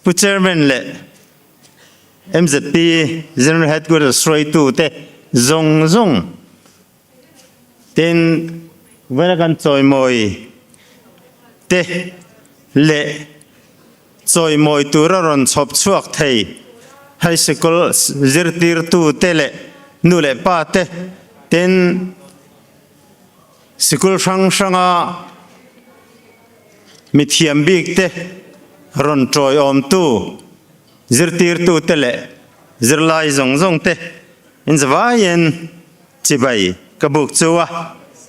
Pu Chairman leh MZP General Headquarters hruaitu te zawng zawng ten Vawina kan chawimawi te leh chawimawi tura rawn chhawp chhuak thei High School zirtirtu te leh nu leh pa te ten Sikul hrang hranga mithiam bikte rawn tawi awmtu zirtirtute leh zirlai zawng zawngte in zavaiin chibai ka buk chu a,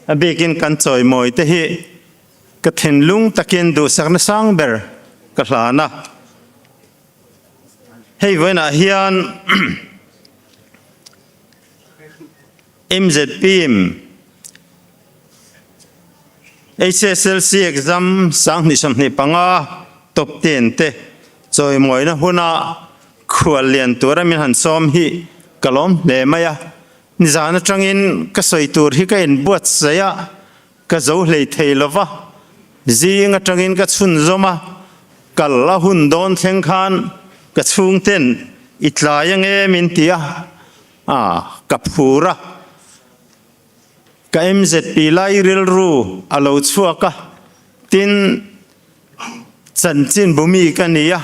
a bikin kan chawi mawite hi ka thinlung takin duhsakna sang ber ka hlan a. Hei vawiinah hian. MZPIM, HSLC exam sanghnih sawmhnih panga top ten te chawimawina huna khual lian tura min han sawm hi ka lawm hle mai a, nizan atangin ka sawi tur hi ka in buatsaih a, ka zo hlei thei lova, zing atangin ka chhunzawm a, kal a hun dawn thleng khan ka chhungten i tlai ang em in ti a. A, ka phur a. Ka MZP lai rilru a lo chhuak a, tin, chanchinbu mi ka ni a,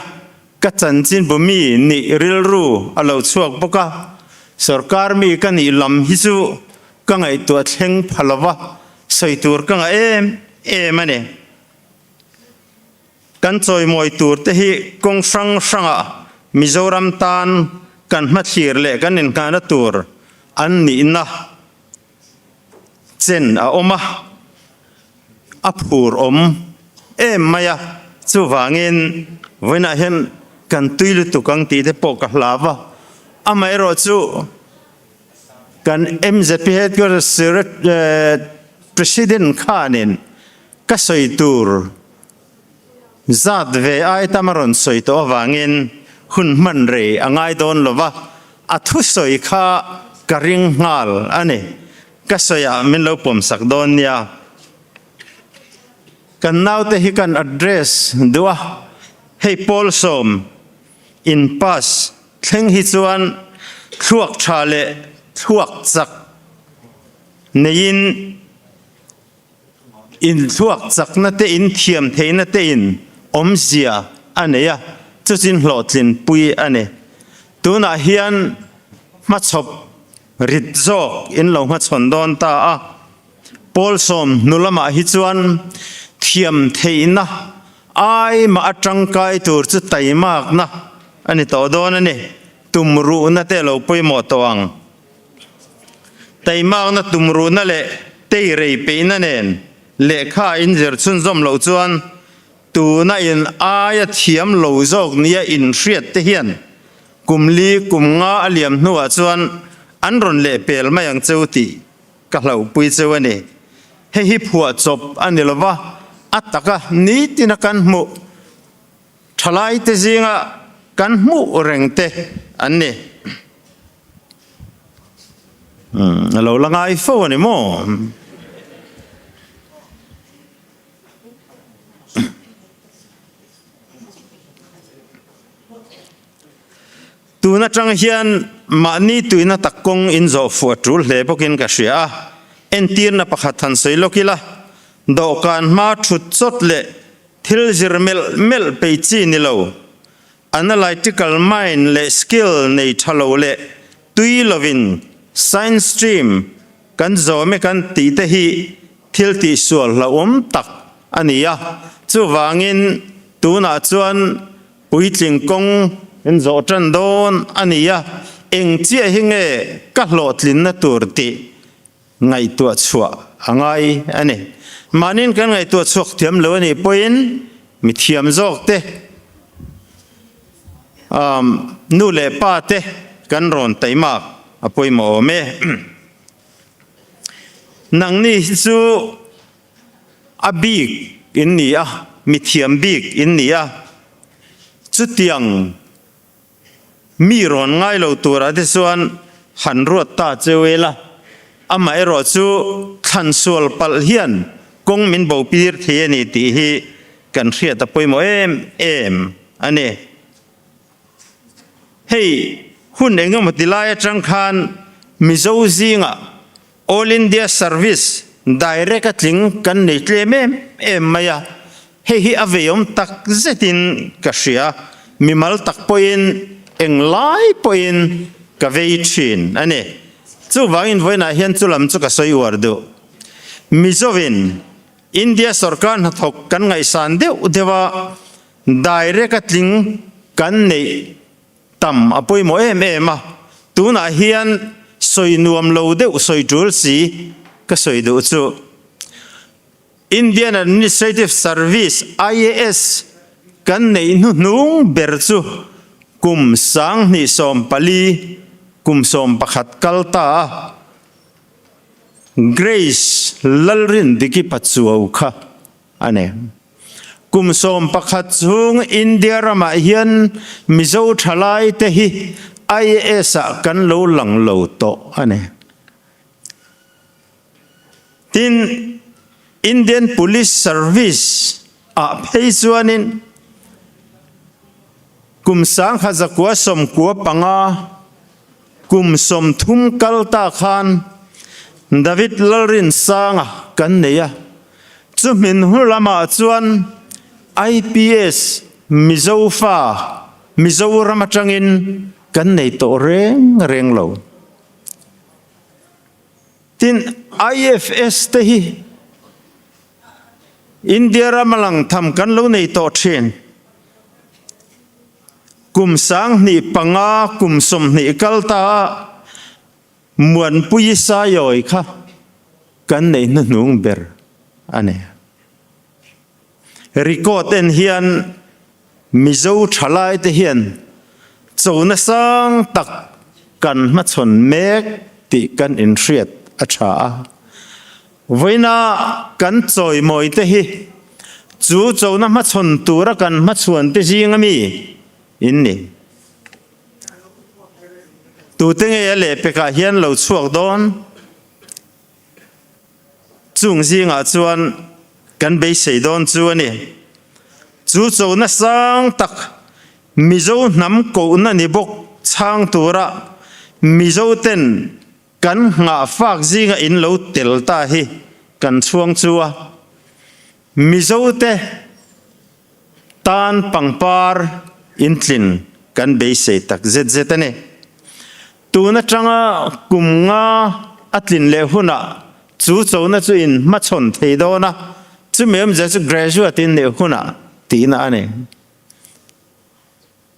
ka chanchinbu mi nih rilru a lo chhuak bawk a, sorkar mi ka nih lam hi chu ka ngaihtuah thleng pha lo va, sawi tur ka ngah em em a ni. Kan chawimawi tur te hi kawng hrang hrangah Mizoram tan kan hmathlir leh kan inhnghana tur an nihna chen a awm a, a phur awm em mai a, chuvangin vawiinah hian kan tui lutuk ang tih te pawh ka hla va, amaherawh chu kan MZP Headquarters President khanin Ka sawi tur zat ve ai tam a rawn sawi tawh avangin hun hman rei a ngai dawn lo va, a thu sawi kha ka ring nghal a ni. Ka sawiah min lo pawmsak dawn nia. Kan naute hi kan address duh a, hei Pawl Sawm in pass thleng hi chuan thluak tha leh thluak chak neiin, Inthluak chakna te inthiam theihna te in awmzia a nei a, chuchin hlawhtlin pui a ni. Tunah hian hmachhawp rit zawk in lo hmachhawn dawn ta a. Pawlsawm hnu lamah hi chuan thiam theihna ai mah a tangkai tur chu taimakna a ni tawh dawn a ni, tumruhna te lo pawimawh tawh ang. Teimakna tum ruhna leh tei rei peihna nen lehkha in zirchhun zawm loh chuan tuna in aia thiam lo zawk nia inhriat te hian kum li kum nga a liam hnuah chuan an rawn leh pel mai ang cheu tih ka hlauhpui cheu a ni. Hei hi phuah chawp a ni lova a taka nitina kan hmuh thalai te zinga kan hmuh reng te an ni. Umm a lo la ngai fo a ni maw? Tun atang hian mahni tuihna tak kawng in zawh fuah tul hle bawk in ka hria a, entirna pakhat han sawi lawk ila, dawhkan hma thut chawt leh thil zir melh melh peih chi ni lo, Analytical mind leh skill nei tha lo leh tui lovin science stream kan zawm e kan tih te hi thiltih sual hlauhawm tak a ni a, chuvangin tunah chuan puitling kawng in zawh tan dawn a ni a, eng chiah hi nge ka hlawhtlinna tur tih ngaihtuah chhuah a ngai a ni. Mahnin kan ngaihtuah chhuak thiam lo a nih pawhin mithiam zawk te, umm nu leh pa te kan rawn taih mak a pawimawh awm e. Nangni hi chu a bik in ni a, mithiam bik in ni a. Chutiang. Mi rawn ngai lo turah te chuan han ruat ta cheu e la, amaherawh chu thlan sual palh hian kawng min bo pir thei a ni tih hi kan hriat a pawimawh em em a ni. Hei hun engemaw tilai atang khan Mizo zingah All India Service Direct a tling kan nei tlem em em mai a, hei hi a veiawm tak zetin ka hria, mi mal tak pawhin eng lai pawhin ka vei thin a ni. Chuvangin vawiinah hian chu lam chu ka sawi uar duh. Mizovin India sawrkar hnathawk kan ngaihsan deuh deuha Direct a tling kan neih, Tam a pawimawh em em a, tunah hian sawi nuam lo deuh sawi tul si ka sawi duh chu. Indian Administrative Service, IAS, kan neih hnu hnung ber chu kum sanghnih sawm pali kum sawm pakhat kal ta a, Grace Lalrindikipa Chuau kha a ni. Kum sawm pakhat chung India ramah hian Mizo thalai te hi IS a kan lo lang lo tawh a ni. Tin, Indian Police Service ah phei chuanin kum sangha zakua sawmkua panga, Kum sawmthum kal ta khan David Lalrinsanga kan nei a, chu hminhur lamah chuan IPS Mizo fa, Mizoram atangin kan nei tawh reng reng lo. Tin, IFS te hi India rama lang tham kan lo nei tawh thin. Kum sanghnih panga kum sawmhnih kal ta a Muanpuii Sayawi kha kan neih hnuhnung ber a ni. Record en hian Mizo thalai te hian chona sang tak kan hmachhawn mek tih kan inhriat a tha a. Vawiina kan chawi mawi te hi chu chona hmachhawn tura kan hmachhuan te zing ami? In ni. Tute ngei a leh pekah hian lo chhuak dawn, chung zingah chuan kan beisei dawn chu a ni. Chu chona sang tak Mizo hnam kohna ni bawk chhang tura Mizoten Kan nghah fak zinga in lo tel ta hi kan chhuang chu a, Mizo te tan pangpar in tlin kan beisei tak zet zet a ni. Tun atanga kum nga a tlin leh hunah chu chona chu in hmachhawn thei dawn a, chumi awmzia chu graduate in leh hunah tihna a ni.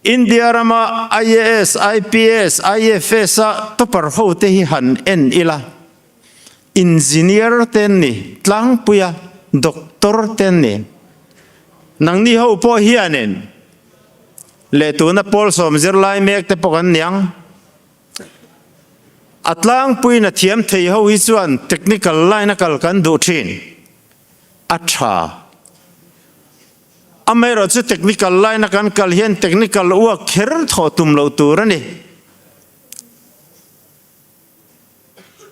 India rama IAS, IPS, IFS a topper ho te hi han en ila, Engineer te an ni, tlangpui a, Doctor te an ni. Nangni ho pawh hianin leh tuna Paul sawm zirlai mek te pawh kan niang. A tlangpuina thiam thei ho hi chuan technical line a kal kan duh thin a tha. Amaherawh chu technical line a kan kal hian technical uak kher thawh tum lo tur a ni.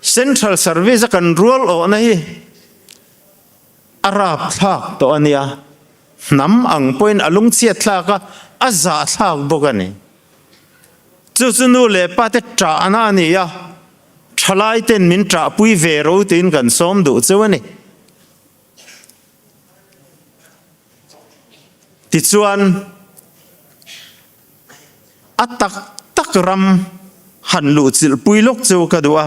Central service a kan rual awhna hi a rapthlak tawh a nia, hnam ang pawhin a lungchhiat thlak a, a zah thlak bawk a ni. Chu chu nu leh pa te tahna a ni a, thalaite'n min tahpui ve ro tiin kan sawm duh cheu a ni. Tichuan a tak tak ram han luh chilh pui lawk chu ka duh a.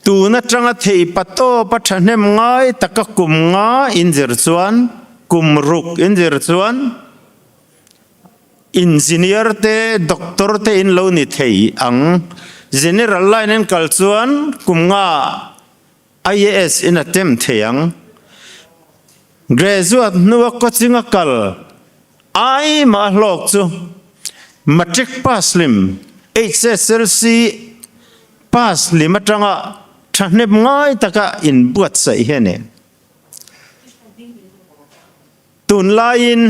Tun atanga thei patawp a thahnem ngai taka kum nga in zir chuan, kum ruk in zir chuan, Engineer te Doctor te in lo ni thei ang. General line in kal chuan kum nga IAS in attempt thei ang. Graduate hnua coaching a kal ai mah a hlawk chu Matric pass lim, HSLC pass lim atanga thahnep ngai taka in buatsaih hian e. Tunlaiin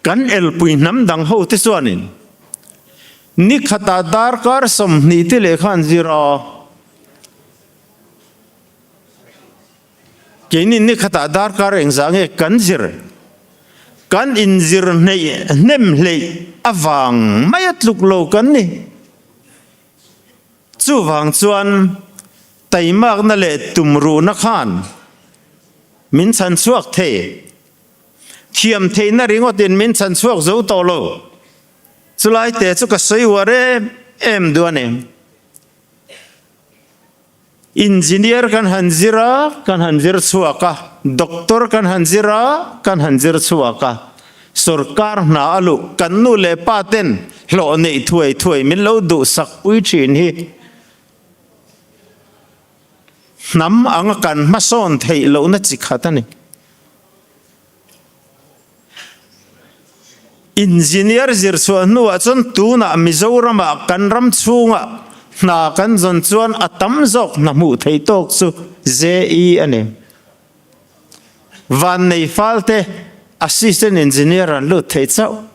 kan elpui hnam dang hote chuanin ni khata darkar sawmhnih te leh khan zir a. Keini ni khata darkar engzah nge kan zir, kan inzir hneih hnem hleih avang maia tluk lo kan ni. Chuvang chuan taimakna leh tum ruhna khan min chhan chhuak thei. Thiam theihna ringawtin min chhan chhuak zo tawh lo. Chulai te chu ka sawi uar em em duh a ni. Engineer kan han zir a, kan han zir chhuak a, Doctor kan han zir a, kan han zir chhuak a, sorkar hna a luh kan nu leh pa ten hlawh neih thuai thuai min lo duhsak pui thin hi hnam anga kan hmasawn theih lohna chi khat a ni. Engineer zirchhuah hnuah chuan tunah Mizorama kan ram chhunga hna kan zawn chuan a tam zawk hna hmuh theih tawk chu JE a ni. Vannei falte Assistant Engineer an lut theih chauh.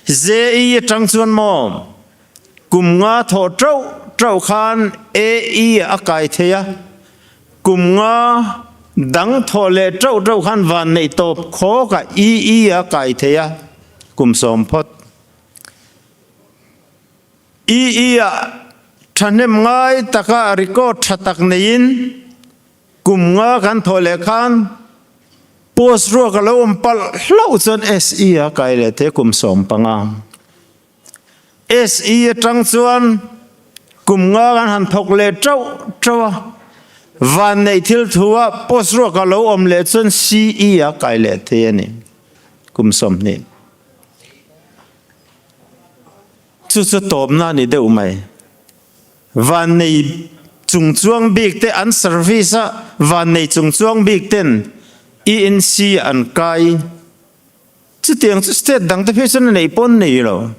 JE atang chuan maw? Kum nga thawh ṭauh ṭauh khan AE a kai thei a, kum nga dang thawh leh ṭauh ṭauh khan vanneih tawp khawkah EE a kai thei a, kum sawm phawt. EE a ṭhahnem ngai taka a record ṭha tak neiin kum nga kan thawh leh khan post ruak a lo awm palh hlauh chuan SE a kai leh thei a, kum sawm panga. SE atang chuan kum ngang an han thawk leh ṭauh ṭauh a, vanneih thil thua post ruak a lo awm leh chuan CE a kai leh thei a ni. Kum sawmhnih chu chu tawpna a ni deuh mai. Vannei chung chuang bik te an service a vannei chung chuang bik ten ENC an kai. Chutiang chu state dang te phei chuan a neih pawn nei lo.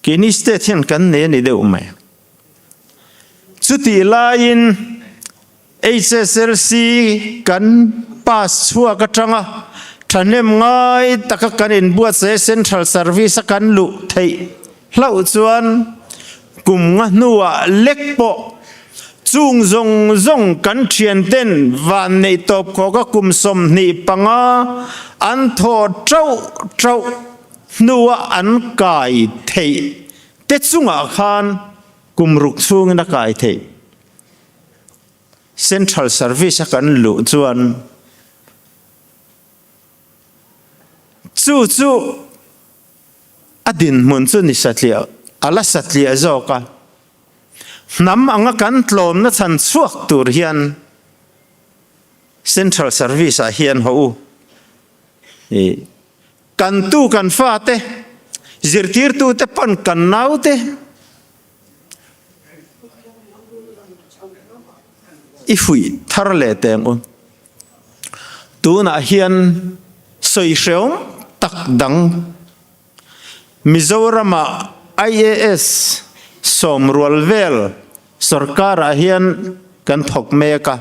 Keini state hian kan nei a ni deuh mai. Chutih laiin HSLC kan pass chhuak atang a, thahnem ngai taka kan inbuatsaih a, central service a kan luh theih hlauh chuan, Kum nga hnuah lek pawh chung zawng zawng kan thianten vanneih tawp khawh ka kum sawmhnih panga an thawh ṭauh ṭauh hnua an kai theih te chungah khan kum ruk chhungin a kai theih Central Service a kan luh chuan Chu chu a dinhmun chu ni satliah a la satliah zawk a, hnam anga kan tlawmna chhan chhuak tur hian Central Service ah hian haw u i kan tu kan fate zirtirtute pawn kan naute, I fuih thar leh teng u. Tunah hian sawi hreawm tak dang Mizorama IAS sawm rual vel sawrkarah hian kan thawk mek a.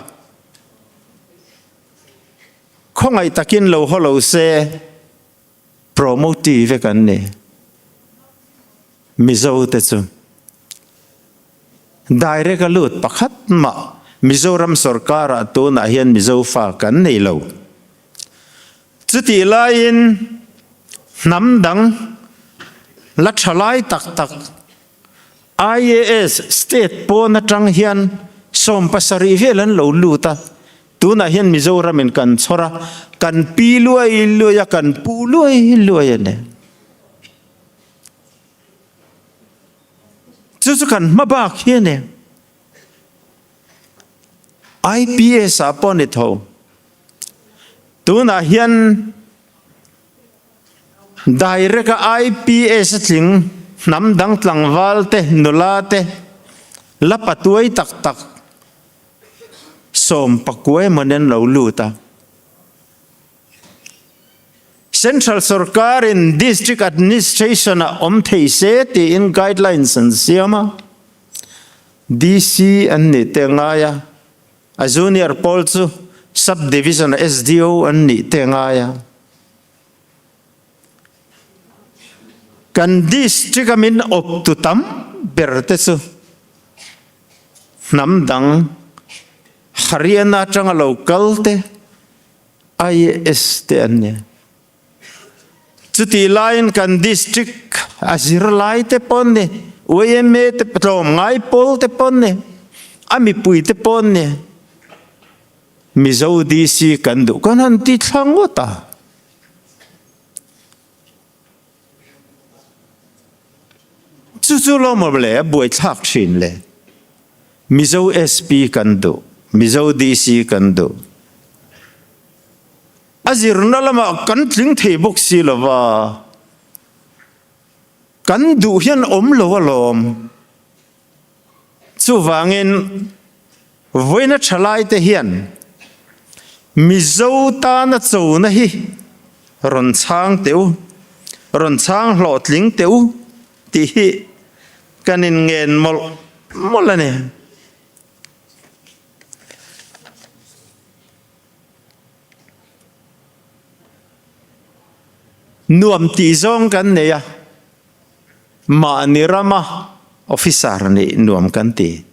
Khawngaih takin lo haw lo se. Promote vek an ni. Mizo te chu direct a lut pakhat mah Mizoram sawrkara tunah hian Mizofa kan nei lo. Chutih laiin hnam dang la tha lai tak tak IAS state pawn atang hian sawm pasarih vel an lo lut a, tunah hian Mizoram in kan chhawr a, kan pi luai luai a, kan pu luai luai a nen. Chu chu kan hma bak hi a nen. IPS ah pawh a ni tho. Tunah hian. Direct a IPS a tling hnam dang tlangval te, nula te, la patuai tak tak sawm pakua emaw nen lo lut a. Central sawrkar in District Administration ah awm thei se tiin guidelines an siam a, DC an nih te ngai a. A junior pawl chu sub division sdo an nih teh ngai a, kan district a min awptu tam ber te chu hnam dang Haryana atanga lo kal te IAS te an ni a. Chutih laiin kan district a zir lai te pawh ni, yma te pawh, tlawm ngai pawl te pawh ni, a mipui te pawh ni, Mizo DC kan duh kan han tih thlang ngawt a. Chu chu lawmawm leh a buai thlak thin le. Mizo SP kan duh, Mizo DC kan duh, A zirna lamah kan tling thei bawk si lo va, kan duh hian awm lo alawm. Chuvangin vawiina tha laite hian Mizo tana chona hi rawn chhang teu, rawn chhang hlawhtling teu tih hi kan inngen mawlh mawlh a ni. Nuam tih zawng kan nei a, mahni rama officer nih nuam kan ti.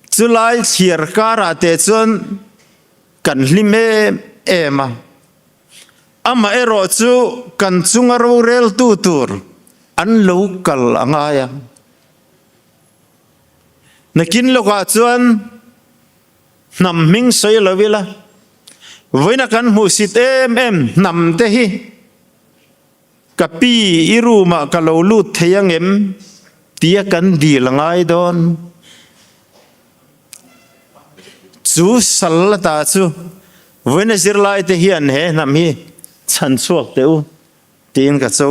Chulai chhiar karah teh chuan kan hlim em em a, amaherawh chu kan chunga roreltu tur an lo kal a ngai a. Nakin lawkah chuan. Hnam hming sawi lo ila, vawiina kan hmuh sit em em hnam te hi ka pi i room ah ka lo lut thei ang em tia kan dil ngai dawn. Chu sal la ta chu vawiina zirlai te hian he hnam hi chhan chhuak teh u tiin ka cho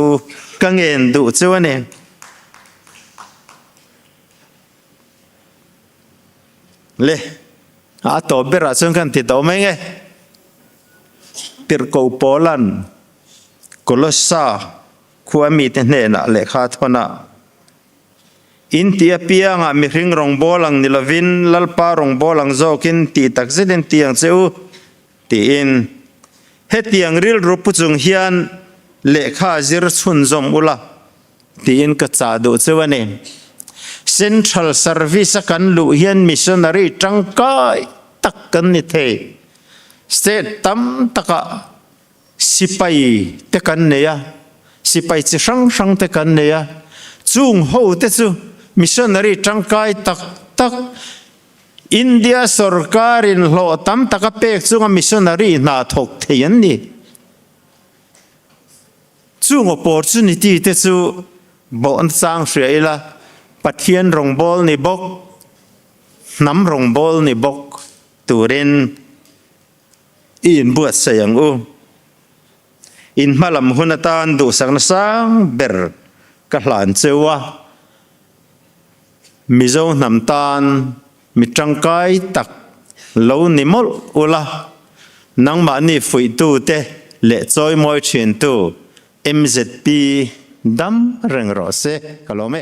ka ngen duh cheu a ni. Le a a tawp berah chuan kan ti tawh mai nge? Tirhko Paula'n Kolosa khua mite hnenah lehkha a thawn a, In tih apiangah mihring rawngbâwl ang ni lovin Lalpa rawngbâwl ang zâwkin tih takzet in ti ang che u, tiin hetiang rilru pu chung hian lehkha zir chhunzawm ula. Tiin ka chah duh chu a ni. Central service a kan luh hian missionary tangkai tak kan ni thei. State tam takah sipai te kan nei a, sipai chi hrang hrang te kan nei a. Chung ho te chu missionary tangkai tak tak, India sorkarin hlawh tam tak a pek chunga missionary hnah thawk thei an ni. Chung opportunity te chu bawh nachang hria ila, Pathian rawngbâwl ni bawk, hnam rawngbâwl ni bawk turin i inbuatsaih ang u. In hma lam hun atân duhsakna sâng ber ka hlan cheu a, Mizo hnam tân Mi tangkai tak lo ni mawlh ula, nangmahni fuihtute leh chawimawi thintu mzp dam reng rawh se ka lawm e.